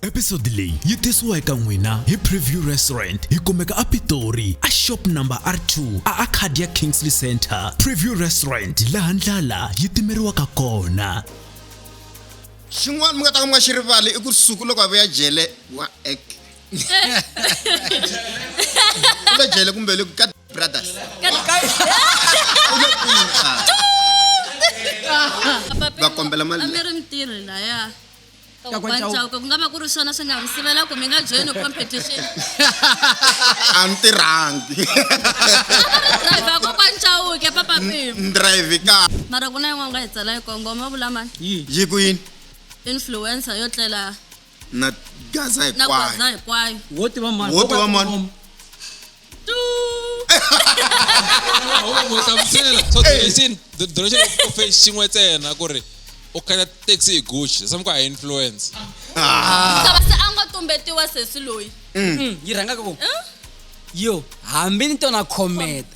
episode leyi yi tisiwa eka n'wina hi preview restaurant yi kumeka apitori a shop number r2 a arcadia kingsley center preview restaurant laha ndlala yi timeriwaka kona xin'wana mi nga ta ka mi nga xi rivali i ku suku loko a vuya jele wa ek kumbe jele kumbe le ka brothers va kombela mali mi ri mitirhi laya kakwacauka ku nga va ku ri swona swi nga mi sivela ku mi nga joyini competition a ni tirhangi driver kokwani cauke papa pim drive ka mara ku na yin'wana nga hi tsala yi kongoma vulamani yi ku yini influencer yo tlela na gaza na hinkwayo gwaza hinkwayo wo tiva mani Wo tiva mani. Tu. hlamusela so direction the direction of face xin'we ntsena ku ri u khandziya taxi hi gucci sami ku ha influence xava se a nga tumbetiwa sesi loyi yi rhangaka ku yo hambi ni tona khometa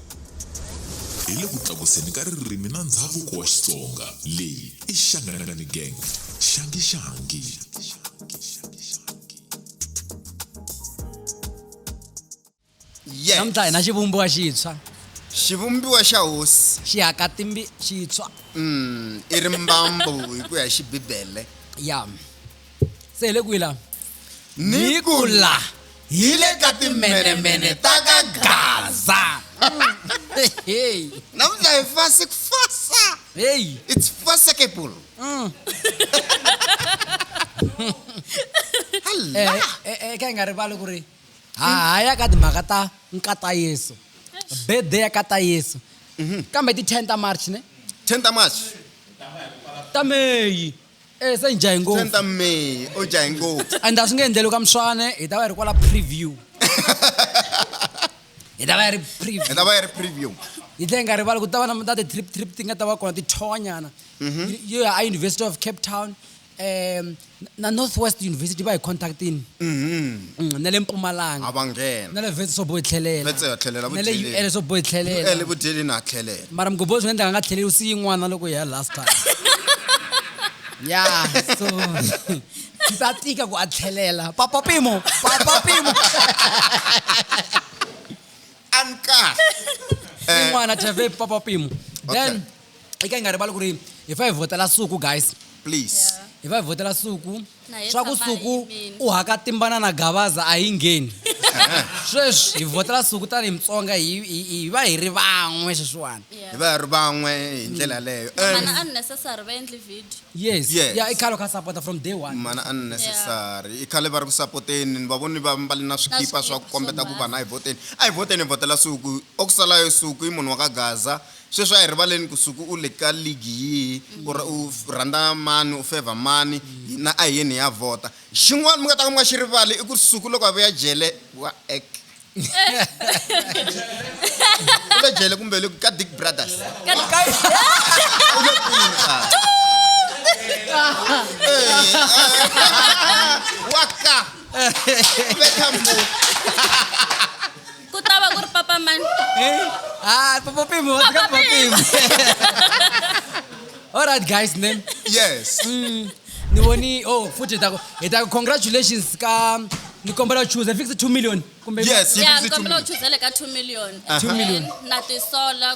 hi le ku tlakuseni ka ririmi na ndhavuko wa Xitsonga. Leyi i Xanganani Gang, Xangi Xangi. Yes. namuntlha hi na xivumbiwa xintshwa Xivumbiwa xa hosi xi haka timbi xintshwa mm, i rimbambu hi ku ya hi xibibele. ya se hi le kwihi laha ni ku la hi le ka timenemene ta ka gaza heyi namuntlha hi fasi ku fasa heyi it's fasekable Mm. Eh, eh, eh, eh, ka hi nga rivali ku ri ha ha ya ka timhaka ta nkata yesu birthday ya kata yesu kambe ti 10 ta march ne 10 ta march ta meyi Eh, se ni jahe ngopfu. Se ni ta me, u jahe ngopfu. And a swi nge endleli ka Mswane, hi ta va hi ri kwala preview. Hi ta va hi ri preview. Hi ta va hi ri preview. Hi tlhela hi nga rivali ku ta va na ta ti-trip trip ti nga ta va kona tithonyana. Mhm. Yo ya a University of Cape Town um na North West University va hi contactini. Mhm. Mm, na le mpumalanga a va nghena na le vhetsi swo bohi tlhelela Vhetsi ya tlhelela na le vudyeleni. ul swo bohi tlhelela ele vudyeleni a tlhelela mara mgobozi nga endlaka nga tlheleli u siyi n'wana loko hi ya last time ya so swa tika ku a tlhelela papa pimo papa pimo a ni kahle i n'wana tave papa pimo then i ka hi nga rivali ku ri hi fa hi vhotela suku guys please hi fa hi vhotela suku Na hi swa ku tshama hi suku yimile. u haka timbana na gavaza a yi ngheni sweswi hi vhotela suku tanihi mutsonga hi hi- hi va hi ri van'we sweswiwani hi va hi ri van'we hi ndlela leyo mana And- unnecessary va endli video yes Yes. ya i khale kha sapota from day one mana unnecessary i khale va ri ku sapoteni ni va voni va mbali na swikipa swa ku swikipa kombeta swo ku vana hi voteni a hi voteni hi votela suku oku salayo suku i munhu wa ka gaza Sweswi a hi rivaleni ku Suku u le ka ligi yihi or u rhandza mani, u fevha mani, hina a hi yeni hi ya vhota. Xin'wana mi nga ta ka mi nga xi rivali i ku Suku loko a vuya jele wa ek u le jele kumbe u le kwihi, ka Dick Brothers u le kwini xana? Wa ka, u betha mbuti. Ku ta va ku ri papa mani? Eh? Ah, Papa Pim, what's up, Papa Pim? All right, guys, name. Yes. Mm, ni voni, oh, futhi ta ku, hi ta ku congratulations ka, ni kombela u chuza, fix 2 million. Kumbe- Yes, you Yeah, fix ni it to kombela me. u chuzele ka 2 million. Aha. 2 million. And Na tisola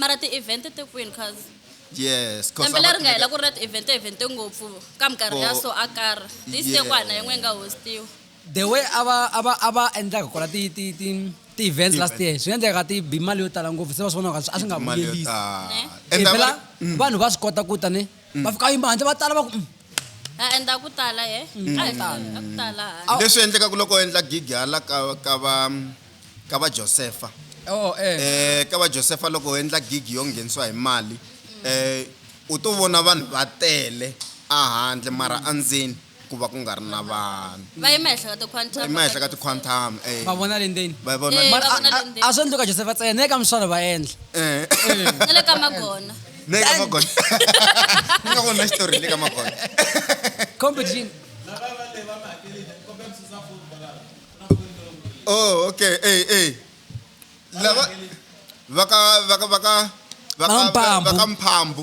mara ti-event ti kwini cause yes cause lembe leri nga hela ku ri na ti-event event ngopfu ka minkarhi ya so a karhi this year ku hana yin'we yi nga hostiwa the way a va a va a va endlaka kona ti ti ti ti-events last year swi nga endleka ti bi mali yo tala ngopfu se va swi vonaka a swi nga vuyelisi eh? phela mm. vanhu va swi kota ku tani mm. va fika yima handle va tala va ku mm. a endla ku tala ye mm. a ku tala leswi endlekaka loko endla gigi hala ka ka va ka va Josefa oh, eh. Eh, ka va Josefa loko u endla gigi yo nghenisiwa hi mali eh, u to vona vanhu va tele ahandle mara andzeni ku va ku nga ri na vanhu va yima henhla ka tiquantum yima henhla ka tiquantum eh va vona le ndzeni va vona eh, mara a swi endli ka Josefa tsena ne ka miswalo va endla eh ne le ka magona ne ka magona ne ka vona story ne ka magona competition oh okay hey hey lava vaka vaka vaka Vakamphambu. vakamphambu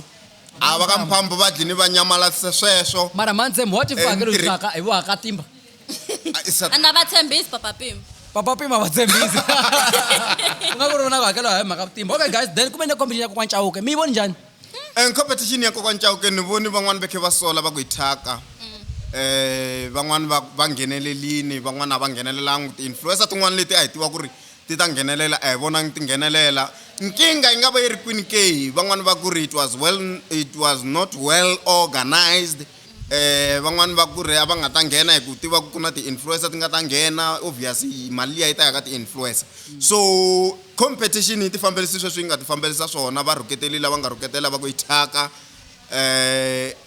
a vakamphambu va dlini va nyamalatisa sweswo mara manze mhoti Eh, fakelo ntiri- xaka hi vakatimba Ah, i sa- ana va tshembisi papa pima papa pima va tshembisi ku nga ku ri vona ku hakela hi mhaka timba okay guys then kumbe ni competition ya kokwana chauke mi yi voni njhani um competition ya kokwani cauke ni voni van'wani va khe va sola va ku hi thyaka um van'wani va va nghenelelini van'wani a va nghenelelangi ti-influencer tin'wani leti a hi tiva ku ri ti ta nghenelela a hi vonangi ti nghenelela nkingha yi nga va yi ri kwini ke van'wani va ku ri it was well it was not well organized Van'wana va ku ri a va nga ta nghena hi ku tiva ku ku na ti-influencer ti nga ta nghena obvious mali liya yi ta ya ka ti-influencer so competition yi ti fambelise sweswi yi nga ti fambelisa swona va rhuketeli lava nga rhuketela va ku yi thyaka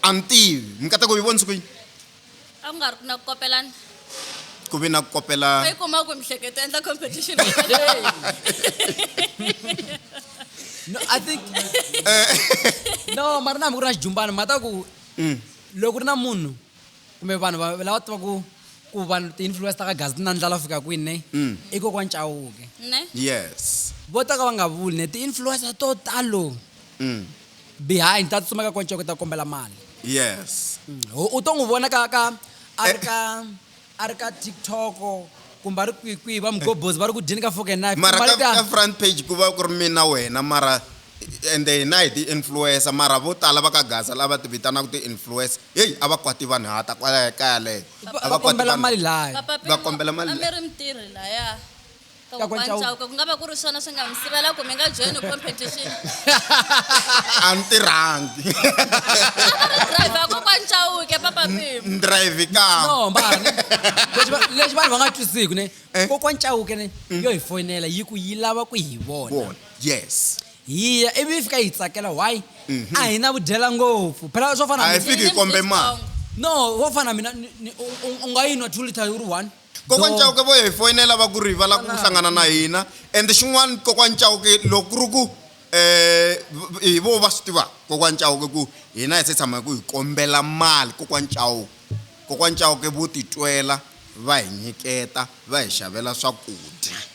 a ni tivi mi kata ku yi vonisa ku yini a ku nga ri na ku kopelana ku ve na ku kopelana yi kuma ku mihleketo endla competition no i think no mara na hambi ku ri na xijumbana ma ta ku loko ri na munhu kumbe vanhu va- lava tivaku ku vanhu ti-influence ta ka gazi ti na ndlala ku fika kwini ne i kokwa ncawuke ne yes vo ta ka va nga vuli ne ti-influencer to talo behind ta tsutsuma ka konceko ta kombela mali yes ho u to n'wi vona ka ka a ri ka a ri ka tiktok kumbe a ri kwihi kwihi va mugobhozi va ri ku dyeni ka fork and knife mara Mali ka, ta- ka front page ku va ku ri mina wena mara ende hina hi ti-influencer mara vo tala va ka gaza lava ti vitanaka ti-influencer heyi a va kwati vanhu hata kwalaya kaya leyo va- a va va kwati kombela vanhu. mali laya Papa Va Pimo, kombela mali a mi leyi. ri mutirhi laya ku nga va ku ri swona swi nga mi sivela ku mi nga joyini competition a ni tirhangi drive kokwani chauke papa ni drive kano mbani lexi vanhu va nga twisiki ne eh? kokwani chauke ne mm. yo hi foyinela yi ku yi lava ku hi vona yes hiya ivi yi fika yi tsakela why mhm. a hi na vudyela ngopfu phela swo fana hi fiki hi kombe mali no wo fana mina u nga yi nwa two liter yi ri one Kokwani Chauke vo hi foyinela va ku ri va lava ku hlangana na hina and xin'wana kokwani Chauke loko ku ri ku um hi vo va swi tivaka kokwani Chauke ku hina hi se tshama hi ku hi kombela mali kokwani Chauke kokwani Chauke vo titwela va hi nyiketa va hi xavela swakudya.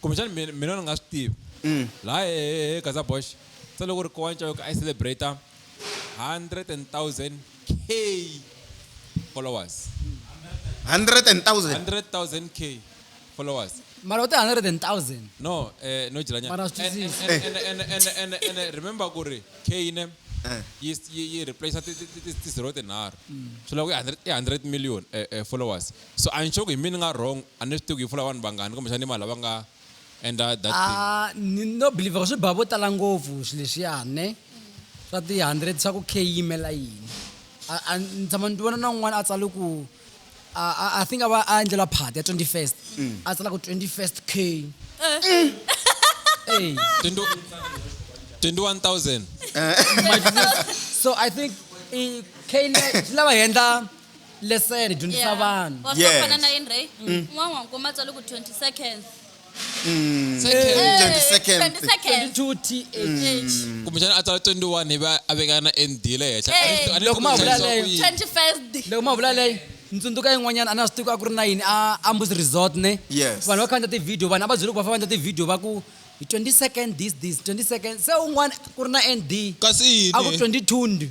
kumbexani mina mina ni nga swi tivi mm. laha hehe gaza bosh se loko ri kowa ncayoko i celebrate 100000 k followers 100000 k followers mara u ti 100000 no eh no jilanyana remember ku ri k ne eh. yi yi replace ti ti ti ti zero tinharhu mm. swi lava ku i 100 million eh, eh, followers so a ni xoko hi mina ni nga wrong A ni swi tivi ku yi pfula vanhu vangani kumbe xana i mani lava nga endla that thing. A ni no believe ku swi ba vo tala ngopfu swi leswiya ne swa ti hundred swa ku khe yi yimela yini a a ni tshama ni vona na un'wana a tsale ku a a I think a va a endlelwa party ya twenty first a tsala ku twenty first K eyi Twenty twenty one thousand. so I think i K leyi swi lava hi endla lesson dyondzisa Yeah. vanhu Wa Yes. fana na yini Ray? Un'wana wa nkuma tswale ku 20 seconds. Second. 20 seconds. 20 seconds. 22 th kumbexana a tsala 21 ivi a veka na nd le henhla A ni swi- a ni Loko swi ma koti vula ku leyo. yi- 21st day. loko ma vula leyi ni tsundzuka yin'wanyana a na swi tivi ku a ku ri na yini a ambus resort ne Yes. vanhu va khandla tivhidiyo vanhu a va byele ku va famba endla tivhidiyo va ku hi 20 second this this 20 second se un'wana ku ri na nd kasi a ku yini 22 ndi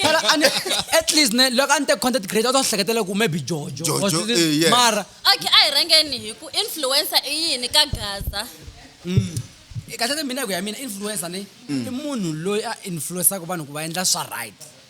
phela a ni- at least ne loko a ni te content creator a to hleketela ku maybe jojo Jojo, Or something. eh, yes. mara okay a hi rhangeni hi ku influencer i yini ka gaza kahlete mina ku ya mina influencer ni i munhu loyi a influensaka vanhu ku va endla swa right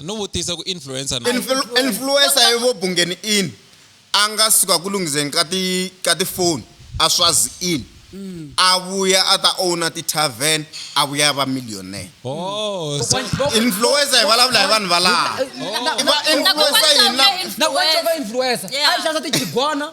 No vutisa ku influencer na. Influ, influencer evo bungeni in a nga suka ku lungiseni ka ti ka ti phone a swazi in a vuya a ta owner ti tavern a vuya a va millionaire Oh, so influencer hi vulavula hi vanhu valaha i va influencer hina Nakona va influencer. Yeah. A yi xavisa tigigwana.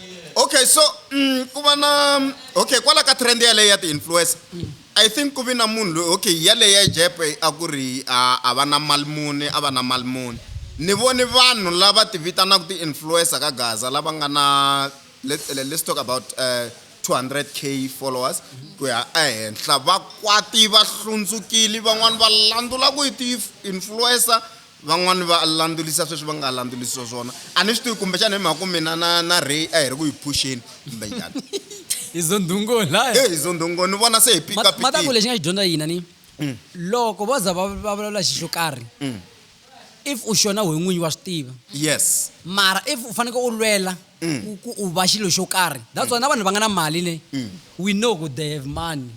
okay so mm, ku va na mm, okay kwala ka trend yaleyo ya ti-influencer i think ku vi na munhu loyi okay yaleyo ya jepe a ku ri a a va na mali muni a va na mali muni ni voni vanhu lava ti vitanaka ti-influencer ka gaza lava nga na let- le- let's talk about uh, 200k followers ku ya ehenhla vakwati va hlundzukile van'wani va landzula ku yi ti-influencer Van'wana va landzurisa sweswi va nga landzurisiwa swona. A ni swi tivi kumbexana hi mhaka ku mina na na Ray a hi ri ku hi phuxeni kumbe njhani. Hi zondhungo laya. He hi zondhungo ni vona se hi pika pikile. Ma ta ku lexi nga xi dyondza hina ni loko vo za va va vulavula xi xo karhi if u xona wehe n'winyi wa swi tiva Yes. mara if u faneke u lwela. ku ku u va xilo xo karhi that's why na vanhu va nga na mali ne we know ku they have money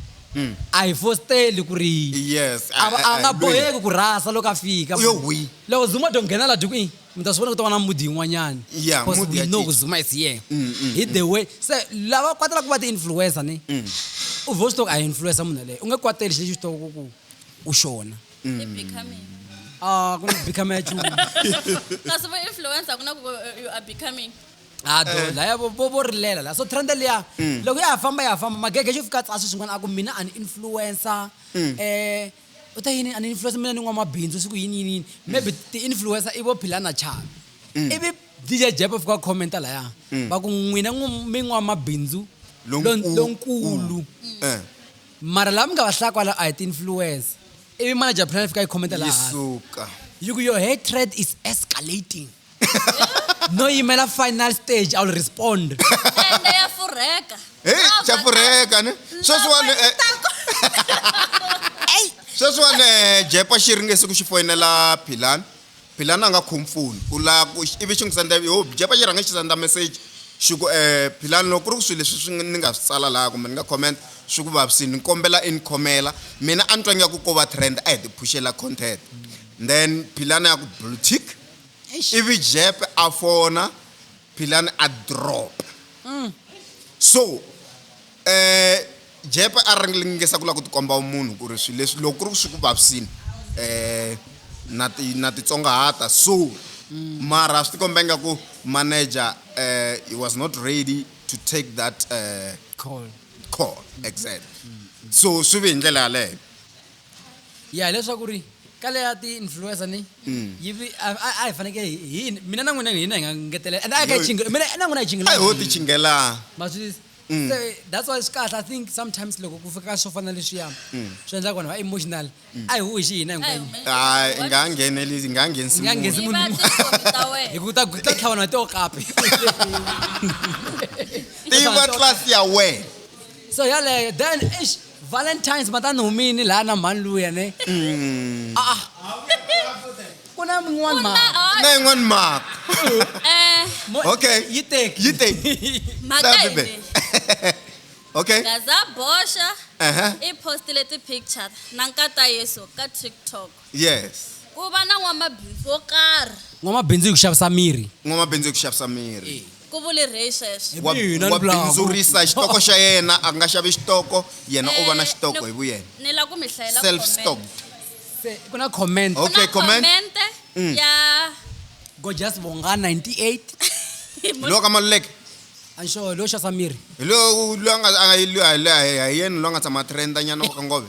a hi fosteli ku ri Yes, a a- va- a- a nga a- boheki ku rhasa loko a fika U yo hwi. loko zuma do nghena la dikuini mi ta swi vona ku ta va na mudi yin'wanyani Yeah, Because mudi we ya know cinca. ku zuma is here hi the way se lava kwatela ku va ti-influencer ne u vo swi tiva ku a hi influencer munhu yeleyo u nge kwateli xi lexi u swi tiva ku ku u xona i becoming ah ku na become ya chulu kasi vo influencer ku na ku eh, you are becoming ado ah, eh. laya vo vo rilela la so trend liya mm. loko ya ha famba ya ha famba magege xo fika tsasi swin'wana a ku mina an influencer um u ta yini an influencer mina ni n'wamabindzu siku yini yini yini mm. maybe ti-influencer i vo philana chavi mm. ivi dj jepo fika commenta laya va ku n'wina mi n'wamabindzu lonkulu eh. Mara laha mi nga va hlaya kwala a hi ti-influencer. Ivi manager plan yi fika yi comment laha hansi. Yisuka. Yi ku your hatred is escalating. No yimela final stage, I will respond. Ende ya furheka. Hey, Lava xa ta- furheka ne. Sweswiwani lava eh, ta ku- sweswiwani eh, jepa xi ringese ku xi foyinela philani Philani a nga khomi foni u la ku ivi xi n'wi senda ivi ho byi pfa xi rhanga xi senda meseji xi ku Philani loko ku ri ku swilo leswi swi ni nga swi tsala laha kumbe ni nga comment swi ku vavisini ni kombela i ni khomela mina a ni twa ingaku ko va trend a hi ti phuxela content then Philani a ku blue tick ivi Jeppe a fona Philani a drop mm. so eh jepe a ringengesa ku la ku tikomba munhu ku ri swilo leswi loko ku ri swi ku vavisini eh na ti na titsongahata so mm. mara swi tikomba ingaku manager eh he was not ready to take that eh call call exactly mm. so swi ve hi ndlela yaleyo ya hileswaku ri ka leya ti-influencer ni Mm. yi vi- a a- a hi fanekele hi- hi yini mina na n'wina hi na hi nga ngetelela and a hi ka Yo- chinge mina na n'wina hi chinge a hi ho ti chingelaa ma swi tivisa? Mm. So, that's why swi kahle i think sometimes loko ku fika ka swo fana na leswiya Mm. swi endlaka vanhu va emotional a hi hoxi hina hinkwenu hayi i nga ha nghenelisi i nga ha nghenisi Nga nghenisi munhu. munhu. Tiva tinkomi ta wena. hi ku ta ku ta tlhavanwa to kapi tiva tlasi ya wena so yaleyo then eish Valentines ma ta ni humini laha na mhani luya ne. Mm. Ah, ah. Ku na min'wana mhaka. Na yin'wana mhaka. Eh. Okay. Yi teki. Yi teki. Mhaka yini? Okay. Gaza Bosha. Uh-huh. I postile ti picture na nkata Yesu ka TikTok. yes ku va na n'wamabindzu wo karhi n'wamabindzu hi ku xavisa miri n'wamabindzu hi ku xavisa miri ku vule rey sweswo wa Mina wa ni vulaka. bindzurisa xitoko xa yena a nga xavi xitoko yena u va na Eh, xitoko ni- hi vuyena ni la ku mi hlayela self comment. stocked Se, ku na comment Ku na Okay, comment. commente Mm. ya gorgeous bonga 98 hi hi lowo ka maluleke anxo lowo xavisa miri hi lowo loyi a nga a nga- hi loyi- hi loyi- hi yena loyi a nga tshama a trenda nyana wa ka ngove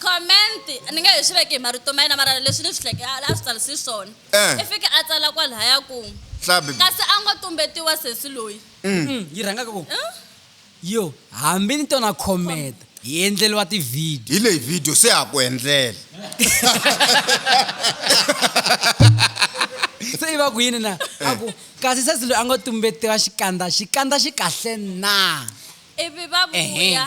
comment ni nga hi swi veke hi marito ma yena mara leswi ni swi hleke a swi tsarise swona eh. i fike a tsala kwalahaya ku kasi a ngo tumbetiwa sesi loyi mm. Mm, yi rhangaka ku eh? Yo, hambi ni tona comment hi endleriwa ti video. Hi leyi video se ha ku endlela. Se i va ku yini na? A ku, kasi sesi loyi a ngo tumbetiwa xikandza, xikandza xi kahle na? Ivi va vuya. Ehe.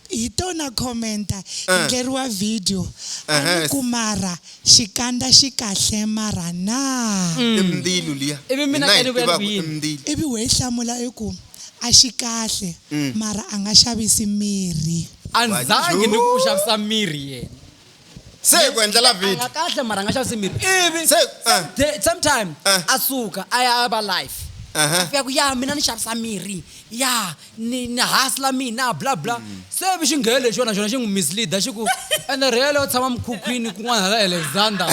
Hi tona commenter hi Eh. ndleriwa video a ni Ehhes. ku mara xikandza xi kahle mara na I mbilu liya. Mm. Ivi mina Hina hi ka ni vuya ni ku tivaka, yini? i mbilu. ivi we yi hlamula i ku a xi kahle Mm. mara a nga xavisi mirhi A ndzangi ni ku u xavisa mirhi yena. se hi ku endlela video nga kahle mara nga xavisi mirhi ivi eh. same time eh. a suka a ya a va life fika ku ya mina ni xavisa mirhi ya ni ni hasla mina bla bla mm. se vi xi nghele lexi yona xona xi n'wi misleada xi ku ene rhele u tshama mukhukhwini kun'wana hala alexander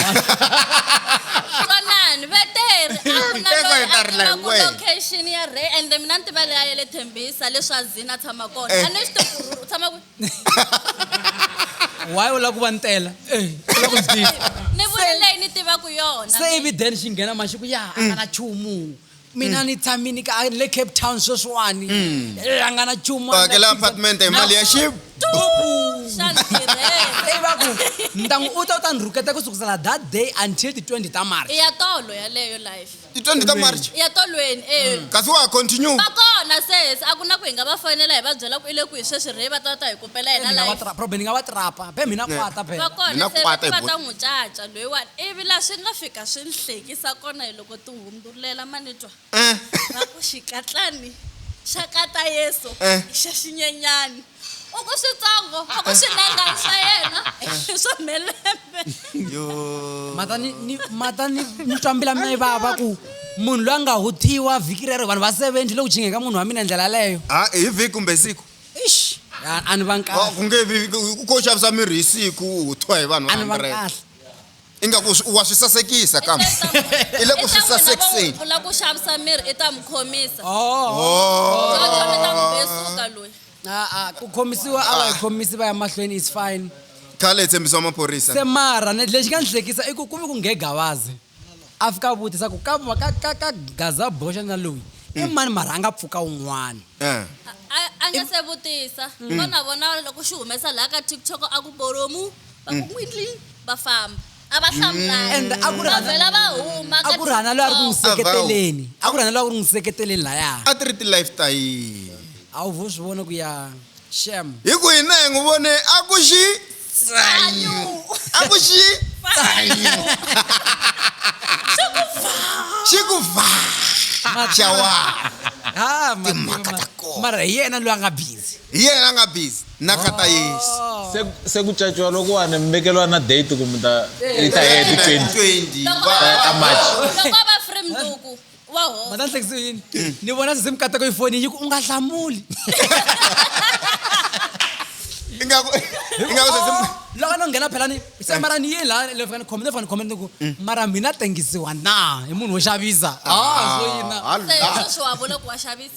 vanani va teri a ku na loyi a tiva ku location ya re ende mina ni tiva leyi a ya le thembisa leswi a zini a tshama kona eh. a ni swi tiva ku u tshama kwihi why u lava ku va ni tela Eh, u lava ku ndzi tiva ni vule leyi ni tivaka yona se ivi then xi nghena mali xi ku ya a nga na chumu mina ni tshamini ka le cape town sweswiwani Eh, a nga na chumu a nga hakela na pizza. apartment hi mali ya xi xa ni tirhela Hey, va ku ntangu u ta u ta ni rhuketa ku sukusela that day until ti 20 ta march i ya tolo yaleyo life ti 20 ta march ya tolweni e kasi wa ha continue va kona ses a ku na ku hi nga va fonela hi va byela ku i le kwihi sweswi rhe va ta ta hi kopela yena Mina wa live tra- problem ni nga wa trapa be mina Ne. kwata be va kona Mina se kwata hi va ta buti. n'wi caca loyiwani ivi laha swi nga fika swi ni hlekisa kona hi loko ti hundzulela manitwa Eh, va ku xikatlani xa kata yesu Eh. i xa xinyenyani u ku switsongo u ku swi nenga swa yena i swa mhelembe mata ni ni mata ni ni twa mbila mina yi vava ku munhu loyi a nga huthiwa vhiki rero vanhu va 70 loku chingeka munhu wa mina ndlela leyo ha hi vhiki kumbe siku ixi a a ni va Oh, nkahle ku nge vi ku- ko xavisa mirhi hi siku u thwa hi vanhu a ni va 100 nkahle ingaku swi- wa swi sasekisa kambe i le ku swi sasekiseni u lava ku xavisa miri i ta n'wi khomisa Oh. tsotso mi ta n'wi besuka loyi a-a ku khomisiwa a va hi khomisi va ya mahlweni is fine khale hi tshembisiwa maphorisa se mara ne- lexi nga ndzi hlekisa i ku ku vi ku nghegavazi a fika a vutisa ku ka ka ka ka gaza boxa na loyi i mani mara a nga pfuka un'wana Eh. A- a nga se vutisa vona vona loko xi humesa laha ka tiktok a ku bolomu va ku windly va famba a va hlamulanga and a ku ri va hana- vhela va huma a ku ri hana loyi a ri ku n'wi katsongo. seketeleni a ku ri hana loyi a ku ri n'wi seketeleni laya a ti ri ti-life ta yini a wu vo swi vona ku ya shem hi ku hina hi n'wi vone a ku xi a ku xi xi ku va xawa ha Timhaka ta kona. mara hi yena loyi a nga busy hi yena a nga busy na kata yesu se se ku caciwa loko wani mi vekeliwa na date ku mi ta yi ta heya ti 20 ta march loko va free mduku wa ho mata nhlekisi yini ni vona se se mi katako yi foni yi ku u nga hlamuli ingaku ingaku se se loko no nghena phela ni se mara ni yini laha le fika ni khomile fika ni khomile ni ku mara mina tengisiwa na hi munhu wo xavisa ah so yini na se sweswi wa vula ku wa xavisa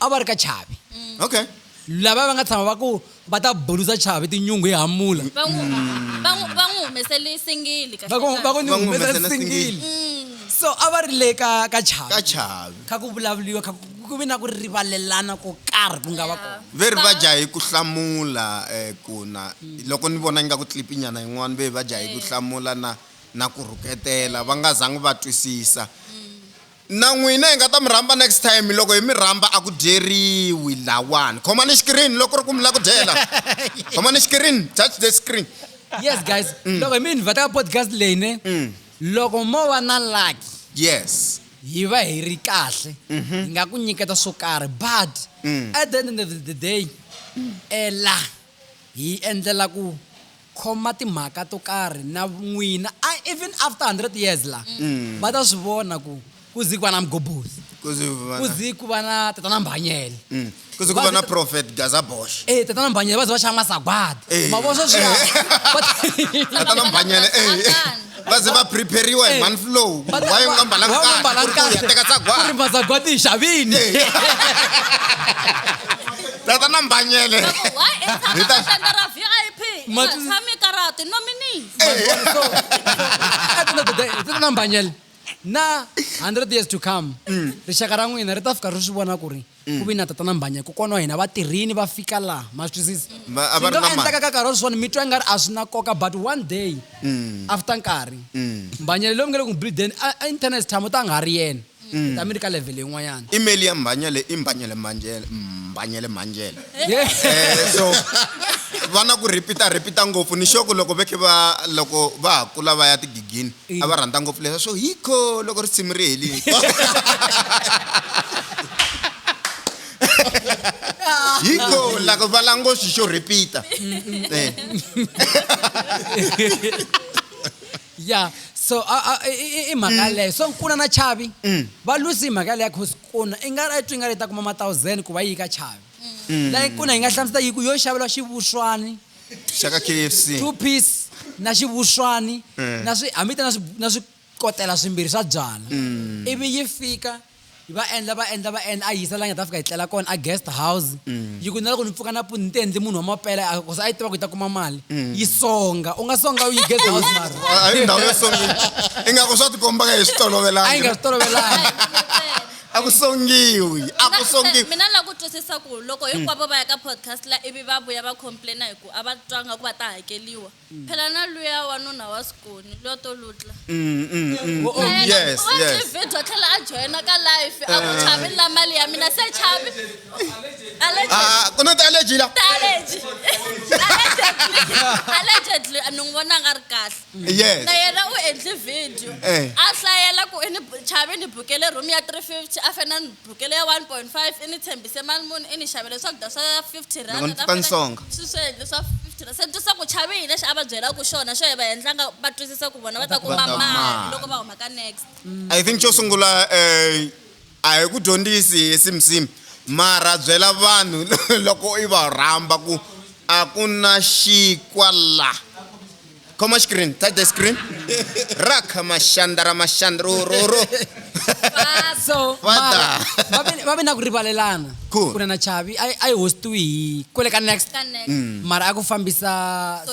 a va ri ka chavi okay lava va nga tshama va ku va ta bulusa chavi tinyungu hi hamula va n'wi mm. va n'wi- va n'wi humesele singili kahle va ku va ku ni Va n'wi humesa humesela singili mm. so a va ri le ka ka chavi ka chavi kha ku vulavuriwa kha ku- ku vi na ku rivalelana ko karhi ku nga va kona ve ri va dya hi ku hlamula um ku na loko ni vona ingaku tlipinyana yin'wana ve va dya hi ku eh. hlamula na na ku rhuketela va nga zangi va twisisa mm. Na n'wina hi nga ta mi rhamba next time loko hi mi rhamba a ku dyeriwi lawani khomani xikirini loko ku ri ku mi la ku dyela khomani xikirini touch the screen yes guys mm. loko hi mi invhata ka podcast leyi ne mm. loko mo va na lucky yes hi va hi ri kahle mm-hmm. hi nga ku nyiketa swo karhi but mm. at the end of the day ela hi endlela ku khoma timhaka to karhi na n'wina a even after 100 years la mm. va ta swi vona ku ku zi ku va na mgobhozi ku zi ku va na tatana mbhanyele mm. ku zi ku va na prophet gazabosh e eh, tatana mbhanyele va zi va xava masagwadi eh. mavona sweswiya eh. tatana mbhanyele e va ze va prepariwa hi mhani flow va yi nga mbalanga kahle teka tsagwari mazagwati yi xavini tata na mbanyele hi ta xandla ra vip tshami karati nominee na 100 years to come mm. rixaka ra n'wina ri ta fika ri swi vona ku ri ku vi na tatana mbhanya kokwana wa hina va tirhini va fika laha ma swi twisisa Va- a va ri na mali. endlaka ka nkarhi wa sweswiwani mi twa ingari a swi na nkoka but one day Mm. after nkarhi mbhanya leyi mi nga le ku n'wi bleedeni a a internet time u ta nga ha ri yena Mm. ta mi ri ka level yin'wanyana email ya mbhanyele i mbhanyele manjele mbhanyele manjele Yeah. Eh, so vana ku repeata repeata ngopfu ni xoku loko vekhe va loko va ha kula va ya tigigini a va rhandza ngopfu leswa swo hikho loko risimu ri helini hikho lako va langoxi xo repeat-a Eh. ya so a- a- i- i- i mhaka yaleyo so nkuna na chavi va lusi hi mhaka yaleyo cause kuna i nga i twi nga ri ta kuma mathousand ku va yi ka chavi layi kuna yi nga hlamusela yi ku yo xavela xivuxwani shaka kfc two piece na xivuxwani eh. na swi hambi ta na swi kotela swimbirhi swa byala mm. ivi yi fika va endla va endla va endla a yisa la nga ta fika yi tlela kona a guest house mm. yi ku na loko ni pfuka na puni ni ti endli munhu wa mapela kusa a yi tiva ku yi ta kuma mali mm. yi songa u nga songa u yi guest house mara a yi ndhawu yo songa ingaku swa tikomba ka hi swi tolovelanga a yi nga swi tolovelanga a ku songiwi a ku songiwi mina la ku twisisa ku loko hinkwavo va ya ka podcast la ivi va vuya va complaina hi ku a va twanga ku va ta hakeliwa mm. phela na luya wanuna wa sikoni luya to lutla mm, mm, oh, yes, yes. video tlhela a joyina ka life a ku eh. chavi la mali ya mina se chavi ah, ku na ti-allergy la allegedly ni n'wi vona nga ri kahle yes na yena u endli video eh. a hlayela ku i ni chave ni bukele room ya 350 a fena ni bukele ya 1.5 i ni tshembise mali muni i ni xavele swakudya swa 50 randnsonga swi swi endle swa 50 rand se twisa ku chave hi lexi a va byela ku xona xo hi va endlanga va twisisa ku vona va ta kuma mali loko va huma ka next mm. i think xo sungula um a hi ku dyondzisi hi simsimu mara byela vanhu loko i va rhamba ku a ku na xikwalaha Come on, screen. Touch the screen. Raka mashandara mashandro ro ro. Faso. Fada. Babe na ku rivalelana. Cool. Kuna na Chavi. I I host to hi kwele ka next. Ka next. Mm. Mara aku fambisa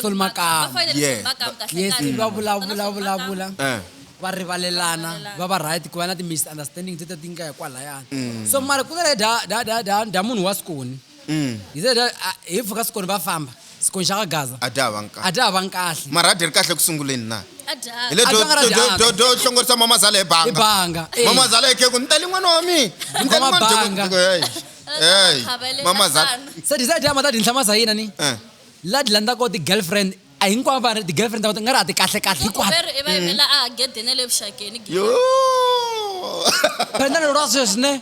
Sol Makam. Yeah. Yes, ba bula bula bula bula. Eh. va rivalelana va va right ku va na ti-misunderstanding tete ti nga hi kwalayana mm. so mara ku nga le da da da da da munhu wa sikoni He said, "Ah, ah, hi pfuka sikoni va famba sikoni xa ka gaza a dya hava nkarhi a dya hava nkahle mara a dyi ri kahle eku sunguleni na A dya. hi le A dya nga ra dyanga. do hlongorisa mamazala hi banga ibanga eh. mamazala hi kheku ni tali n'wana wa mina Ni tali Khoma n'wana wa banga. Jeko- Hey, hey, Khavelela mamazala fana. se disa dya mata dinhla masa yina ni Eh. la di landza ko ti-girlfriend a hinkwavo va ri ti-girlfriend ta nga ri a ti kahle kahle hinkwato Veri i va yimela a gedeni ya le vuxakeni. Yoo. phenda lero ra sweswi ne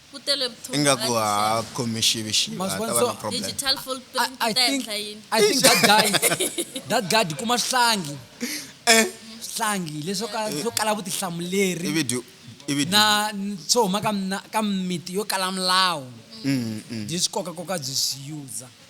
ku tele vuthongo ingaku ha ha khomi xivi xivi Ma ha swi vona? ta va So- na problem digital full I, print I ta think endla yini I think that guy that guy di kuma swihlangi Eh. swihlangi leswo ka swo kala vutihlamuleri ivi dyu ivi dyu na n- swo huma ka mina- ka miti yo kala milawu Mm, mm. byi swi kokakoka byi swi yuza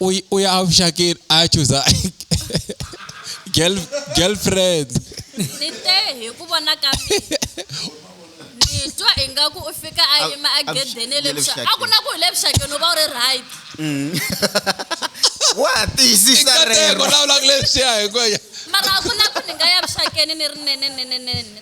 uy uy am shakir achuza girl girlfriend ni te hi ku vona ka ni twa ingaku u fika a yima a gedene le a ku na ku hi le vuxakeni u va u ri right mm. wa tiyisisa rero lawulaka leswiya hi ku mara a ku na ku ni nga ya vuxakeni ni ri nene nene nene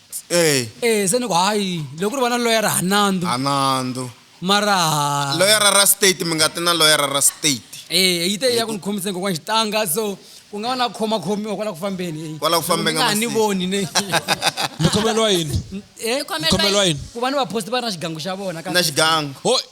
Ee. e se ni ku hayi loko ri va na loyara ha nandzu ha nandzu mara loyara ra state mi nga ti na loyara ra state e yi te ya ku ni khomisa ni kokwana xitanga so ku nga va na khoma khomiwa kwala ku fambeni kwala ku fambeni nga ni voni ne mi khomeliwa yini eh khomeliwa yini ku va ni va post va na xigangu xa vona ka na xigangu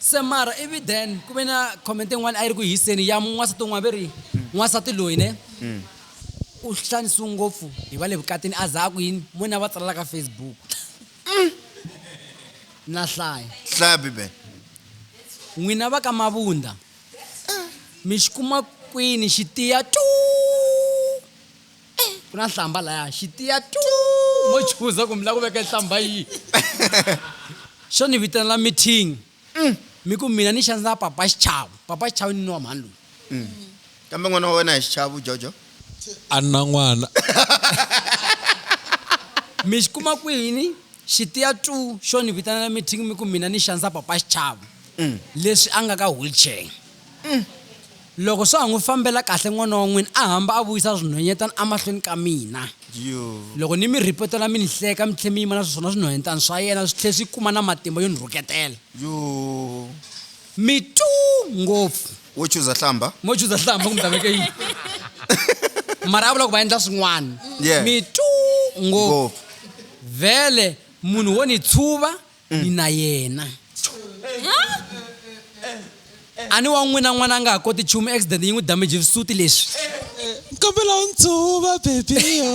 Se mara ivi then ku ve na comment yin'wana a yi ri ku hiseni ya n'wansati un'wana ve ri n'wansati loyi ne u xanisiwe ngopfu hi va le vukatini a za a ku yini mo ni a va tsalela ka facebook na hlaya hlaya bibele n'wina va ka mavunda mi xi kuma kwini xi tiya tu Eh, ku na nhlamba laya xitiya tu mo chuza ku mi la ku veka nhlamba yi xo ni vitanela meeting mm. mi ku mina ni xandzela papa xichavu papa xichavu ni ni wa mhani loyi mm. kambe n'wana wa wena hi xichavu jojo a na n'wana mi xi kuma kwini Xitiya tu xo ni vitanela meeting mi ku mina ni xanisa Papa Xichavo leswi a nga ka wheelchair. Loko swa ha n'wi fambela kahle n'wana wa n'wina a hamba a vuyisa swinhwenyetana emahlweni ka mina. Loko ni mi rhipotela mi ni hleka mi tlhe mi yima na swona swinhwenyetana swa yena swi tlhe swi kuma na matimba yo ni rhuketela. mi tu ngopfu wo chuza hlamba mo chuza hlamba kumbe veke yini mara a vula ku va endla swin'wana Yeah. mi tu ngopfu ngopfu vhele munhu wo ni tshuva Mm. ni na yena a ni wa n'wina n'wana a nga ha koti nchumu accident yi n'wi damage visuti leswi kombela u ndzuva bebiyo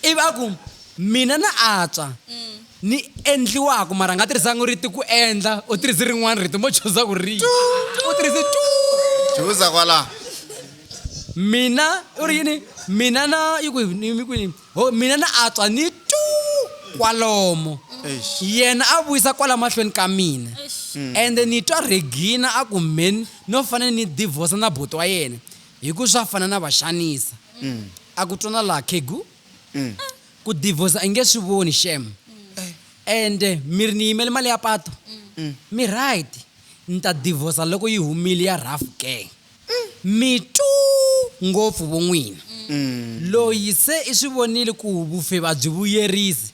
ivi a ku mina na atswa ni endliwaku mara nga tirhisangi riti ku endla u tirhisi rin'wana rito mo chuza ku ri u tirhisi tu chuza kwala mina u ri yini mina na yi ku mi ku yini ho mina na atswa ni tu kwalomo yena a vuyisa kwala mahlweni ka mina ende ni twa regina a ku mheni no fanele ni divorce na buti wa yena Hi ku swa fana na va xanisa. A ku twana laha khegu. Ku divorce i nge swi voni xem. And mi ri ni yimele mali ya patu? Mi right. Ni ta divorce loko yi humile ya rhafu ke? Mi two ngopfu vo n'wina. Loyi se i swi vonile ku vufe a byi vuyerisi.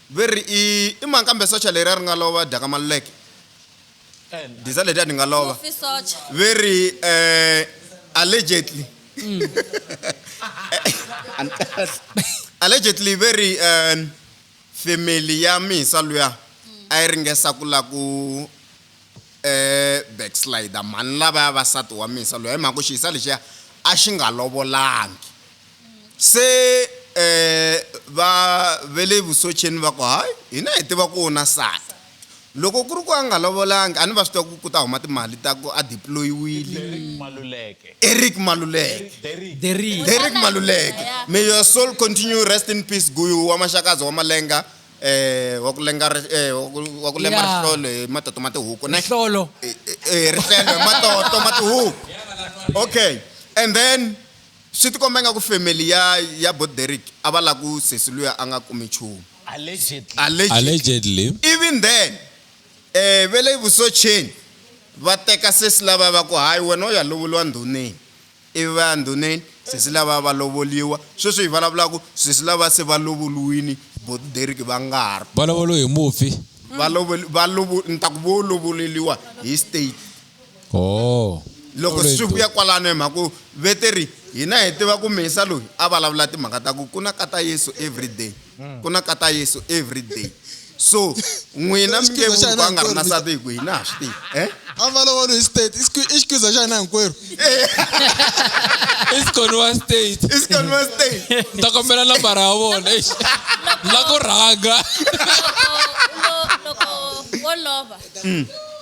Ve ri, I, i mani kambe socha leriya ri nga lova, dyaka maluleke, diza letiya ti nga lova. Mufi socha. Ve ri, Eh, allegedly. allegedly ve ri, eh, family ya mhisa luya a yi ringesa ku la ku eh, backslider mhani lavaya vasati wa mhisa luya hi mhaka ku xihisa lexiya a xi nga lovolangi. Se va ve le vuswecheni va ku, Hayi, hina hi tiva ku u na nsati. Loko ku ri ku a nga lovolangi, a ni va swi tiva ku ku ta huma timali ta ku a deployiwile. Derrick Maluleke. Derrick Maluleke. Derrick. Derrick Maluleke. May your soul continue rest in peace Guyu wa Maxakadzi wa Malenga, wa ku lenga wa ku lema rihlolo hi matoto ma tihuku ne? Rihlolo. Rihlelo hi matoto ma tihuku. Okay. And then. Swi tikomba ingaku family ya ya bo Derrick a va lava ku sesi luya a nga kumi nchumu. Allegedly. Even then, eh, ve le vusoceni va teka sesi lavaya va ku hayi wena u ya lovoliwa ndhuneni. Ivi va ya ndhuneni, sesi lavaya va lovoliwa. Sweswi hi vulavulaka, sesi lavaya se va lovoliwile, bo Derrick va nga ha ri kona. Va lovoliwe hi mufi. Va lovoli, va lovo, ni ta ku vo lovoleriwa hi state. oh loko Sorry, swi to- vuya kwalano hi mhaka ku veteri hina hi tiva ku mesa loyi a vulavula timhaka ta ku ku na kata yesu everyday Mm. ku na kata yesu everyday so n'wina mi nge Xikhiza xa vuku a nga ri na hina sati hi ku hina ha swi tivi eh? a valovolo hi state i xikhi- i xikhiza xa hina hinkwerhu isikhoniwa state isikhoniwa state ni ta kombela nambara ya vona eish la ku rhanga loko wo lova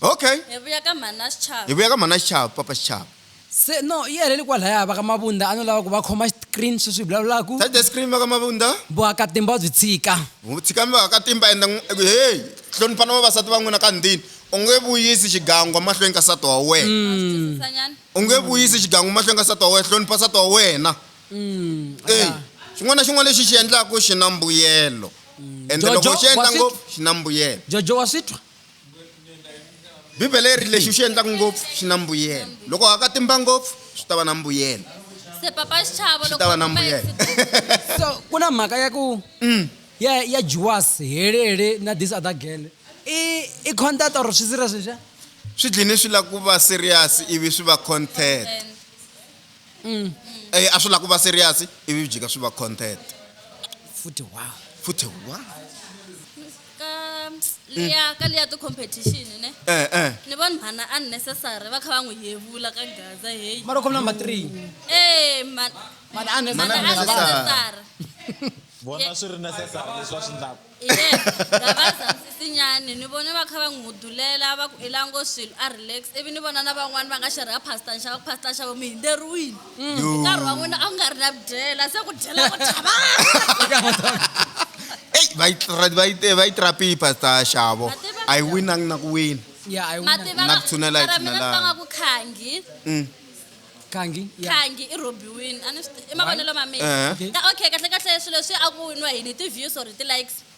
okay hi vuya ka mhana xichava hi vuya ka mhana xichava papa xichava se no yi heleli kwalaya va ka mavunda a no lava ku va khoma screen swi swi vulavulaku tat the screen va ka mavunda vuakatimba byi tshika tshikami vaakatimba enda heyi hlonipha na vavasati va n'wina ka ndini u nge vuyisi xigangwa mahlweni ka sati wa wena mm. u nge vuyisi xigangwa mahlweni ka sati wa wena hlonipha sati wa wena mm, eyi xin'wana na xin'wana lexi xi endlaka xi na mbuyelo mm. ende loko xi endla ngopfu xi na mbuyelo jojo wa swi twa bibele yi ri lexi u xi endlaka ngopfu xi na mbuyelo loko haka timba ngopfu swi ta va na mbuyelo se papa xichavo swi ta va na mbuyelo so ku na mhaka ya ku mm. ya ya juwas helele na this other girl i i content or swi serious leswiya swi dlini swi lava ku va serious ivi swi va content mm. eh, a swi lava ku va serious ivi byi ka swi va content futhi wa futhi wa ka liya ka liya ti-competition ne Eh, eh. ni voni mhana unnecessary va kha va n'wi yevula ka gaza heyi mara khom number three e mhana mhana unnecessary vona swi ri necessary leswi va swi ndlaku ye gavazamsisinyani ni vone va kha va n'wi hudulela va ku elango swilo a relax ivi ni vona na van'wani va nga xerha pastor nxava ku pastor nxavo mi hinderiwile Mm, Yo. nkarhi wa n'wina a ku nga ri na byela se ku dyela ku chava eyi va yi tra- va yi te- va yi trapi pastor xavo Mativa- a yi winangi na ku wina ya a yi wina mativa Na ku tshunela hi ra mina tshunelana. sanga ku khangi Mm. kangi ya khangi i rhobiwini a ni swi ti- i mavonelo ma mina Ehe. Ka- okay kahle kahle swilo leswi a ku winiwa yini ti-views or ti-likes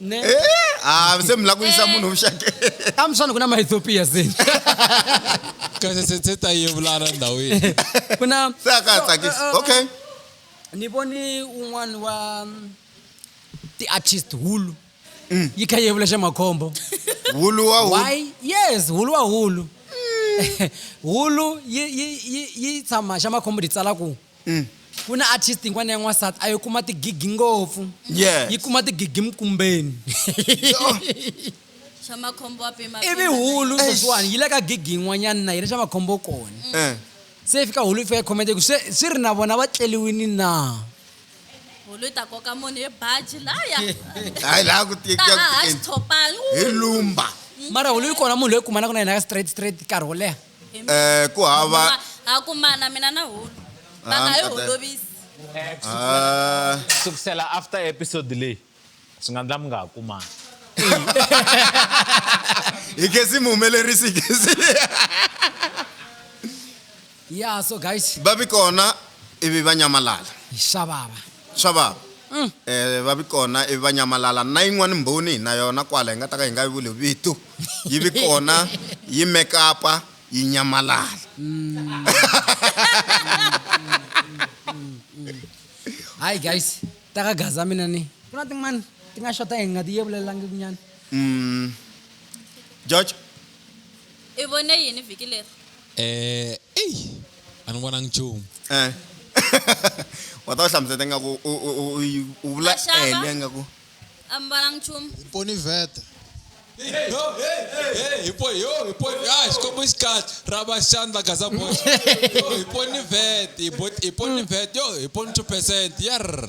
Ne? Eh, ah, se mi lava ku yisa munhu vuxakeni a mi swani ku na maethiopia se kahle se se ta yevulana ndhawini ku na se a ka ha tsakisi eh, eh, okay ni voni un'wana wa mm, ti-artist hulu mm. yi kha yevula xa makhombo hulu wa hulu why yes hulu wa hulu mm. hulu yi yi yi yi tshama xa makhombo ti tsala ku Ku na artist yin'wana ya n'wansati a yi kuma tigigi ngopfu. Yes. Yi kuma tigigi mkumbeni. Swa makhombo wa pima. Ivi pima. hulu Eish. sweswiwani yi le ka gigi yin'wanyana na yi ri swa makhombo kona. Eh. Se yi fika hulu yi fika yi comment ku swe swi ri na vona va tleliwini na? Hulu yi ta koka munhu hi baji laya. Hayi la ku ti Ta haha xitshopani. hi lumba. Mara hulu yi kona munhu loyi kumanaka na yena ka straight straight nkarhi wo leha. Eh, ku hava Kuma- ha kumana mina na hulu Ah, va nga yi mkate. holovisi Ah, sukusela after episode leyi swi nga ndla mi nga ha kumani hi kesi mi humelerisi hi kesi ya so guys va vi kona ivi va nyamalala hi swa vava Swa vava. E, va vi kona ivi va nyamalala. Na yin'wana Mbhoni hi na yona kwala, hi nga ta ka hi nga yi vuli vito, yi vi kona, yi mekapa, yi nyamalala. Hayi, guys, ta ka Gaza mina ni. Ku na tin'wana ti nga xota hi nga ti yevulelangikunyana. George? I vone yini vhiki leri? Eh, eyi a ni vonangi nchumu Eh. wa ta wu hlamuseta ingaku u- u- u- u yi- u vula Maxaka. ele ingaku a mi vonangi nchumu ponivhete xikombo xi kahle ra vaxandla gaza box yo hi poni vet hi bo- hi poni vet yo hi poni two percent yarr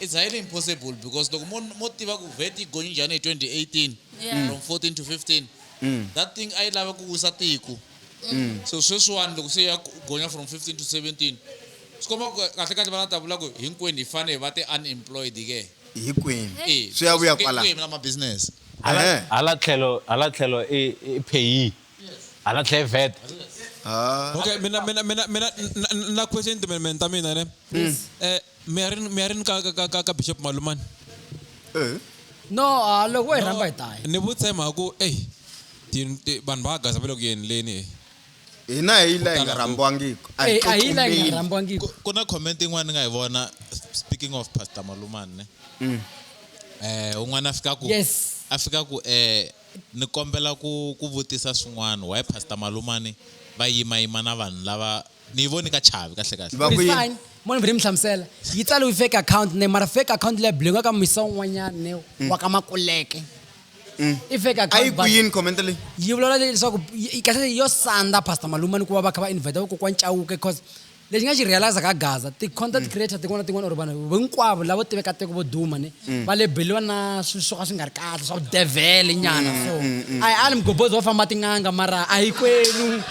It's highly impossible because loko mo mo tiva ku VAT yi gonye njhani hi 2018 Yeah. from 14 to 15 that thing a yi lava ku wisa tiko so sweswiwani loko se ya ku- gonya from 15 to 17 swi komba ku kahle kahle va nga ta vula ku hinkwenu hi fane hi va ti-unemployed ke hinkwenu Eh, swi ya vuya ke- kwala ke mina mabusiness hala Ehe. hala tlhelo hala tlhelo i i payee hala tlhelo vet Ah, okay mina mina mina mina na- na- na question to mina mina ta mina ne eh mi ya ri mi ya ri ni ka ka ka ka ka bishop malumani no a loko wo hi rhamba hi ta ya ni vutshemba ku eyi ti- ti- vanhu va gaza va le ku yenileni e hina hi la hi nga rhambiwangiki a hi Eh, a hi la hi nga tsutsumeli. rhambiwangiki Ku- ku na comment yin'wana ni nga yi vona speaking of pastor malumani ne Mm. eh un'wana a fika ku yes a fika ku eh ni kombela ku ku vutisa swin'wana why pastor malumani va yimayima na vanhu lava ni yi voni ka chavi kahle kahle Va ku yi- Fine. Mona vhele mi hlamusela yi tsaliwe fake account ne mara fake account leyi bulinga ka misa un'wanyana ne wa ka makuleke i fake a yi account ku but- yini comment leyi yi vulavula leswaku yi- yi- kahle yo sandza pastor maluma ni ku va va kha va invite vakokwana cawuke because lexi nga xi realize ka gaza ti-content creator tin'wana na tin'wana or vanhu hinkwavo lavo tiveka tiko vo duma ne Mm. va lebeliwa na swilo swo ka swi nga ri kahle swa vudevhele nyana mm, so mm, a hi ali migobhozi va famba tin'anga mara a hi kwenu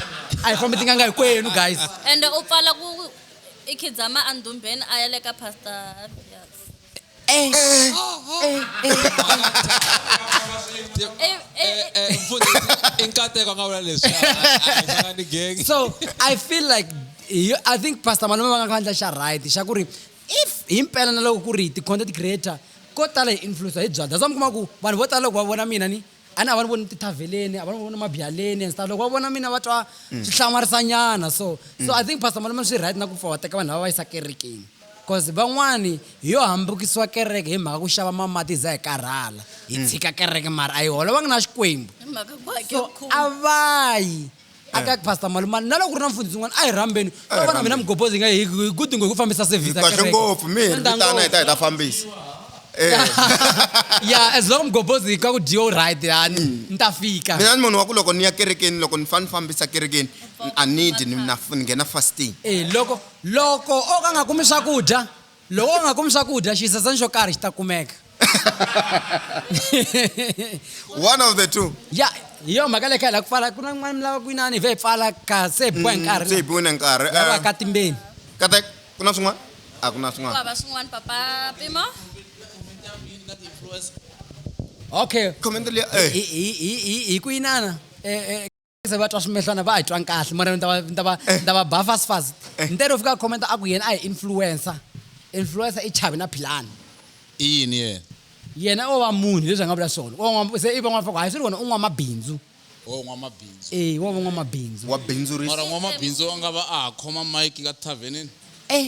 a hi fambi tin'anga hi kwenu guys ende u pfala ku i khidzama andhumbeni a ya le ka pastor eh. i nkateko nga vula leswi so i feel like i think pastor malume va nga khandla xa right xa ku ri If himpela na loko ku ri ti content creator ko tala hi influencer hi byalwa that's why mi kuma ku vanhu vo tala loko va vona mina ni a ni a va ni voni ni tithaveleni a va ni voni mabyaleni and stuff loko va vona mina va twa mm. swi hlamarisa nyana so so i think pastor malume swi right na ku pfa wa teka vanhu lava va yisa kerekeni cause van'wani hi yo hambukisiwa kereke hi mhaka ku xava mamati hi za hi karhala hi hmm. tshika kereke mara a yi holovangi na xikwembu so a va yi a ka pastor malumani na loko ku ri na mfundhisi un'wana a hi rhambeni to vona mina mugobhozi nga hi hi ku dingo hi ku fambisa service ya kahle kereke. ngopfu mi hi Swi ri endla vitana hi ta hi ta fambisa Eh, ya as long mugobhozi ka ku dyiwa u right yani ni ta fika mina ni munhu wa ku loko ni ya kerekeni loko ni fanele ni fambisa kerekeni a ni dyi ni na- ni nghena fasting Eh, loko loko o ka nga kumi swakudya Loko u nga kumi swakudya, xisasani xo karhi xi ta kumeka. One of the two. Ya, hi yona mhaka leyi kha hi lava ku pfala. Ku na kun'wana mi lava ku inana hi vhe hi pfala ka se hi biwa hi nkarhi Se hi biwe na nkarhi. la va ka timbeni. Katek, ku na swin'wana? A ku na swin'wana. Hikuva va swin'wana Papa Pimo. Okay. Comment leyi, eh. Hi, hi, hi, hi, hi ku inana. Eh, eh. se va twa swimehlwana va hi twanga kahle mara ni ta va ni ta va eh. ni ta va ba fast fast eh. ni tero fika comment a ku yena a hi influencer influencer i chavi na philani i yini yena yena o va munhu leswi a nga vula swona se i van'wana faka hayi swi ri wona u n'wamabindzu wo n'wamabindzu e wo va n'wamabindzu wa bindzurisa mara n'wamabindzu wa nga va a ha khoma mike ka tavhenini e eh.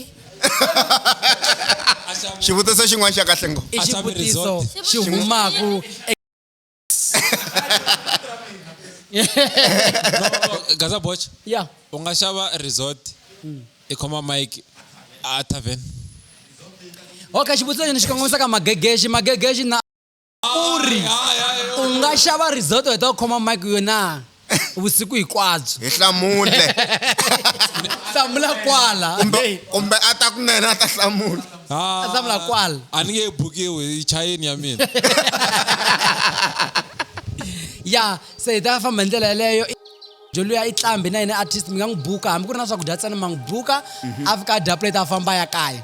xivutiso xin'wana xa kahle ngo i xivutiso xi humaku gaza boch ya u nga xava resort i khoma mike a tavern okay xivutiso lexi ni xi kongomisaka magegexi magegexi na u ri u nga xava resort u heta u khoma mike yo na vusiku hikwabyo hi hlamule hlamula kwala kumbe kumbe a ta kunene a ta hlamula Ah, a hlamula kwala a ni nge bukiwi yi chayeni ya mina ya se hi ta famba hi ndlela yeleyo joluya i tlambi na yena artist mi nga n'wi buka hambi ku ri na swakudya ntsena ma n'wi buka afika a dya plate a famba a ya kaya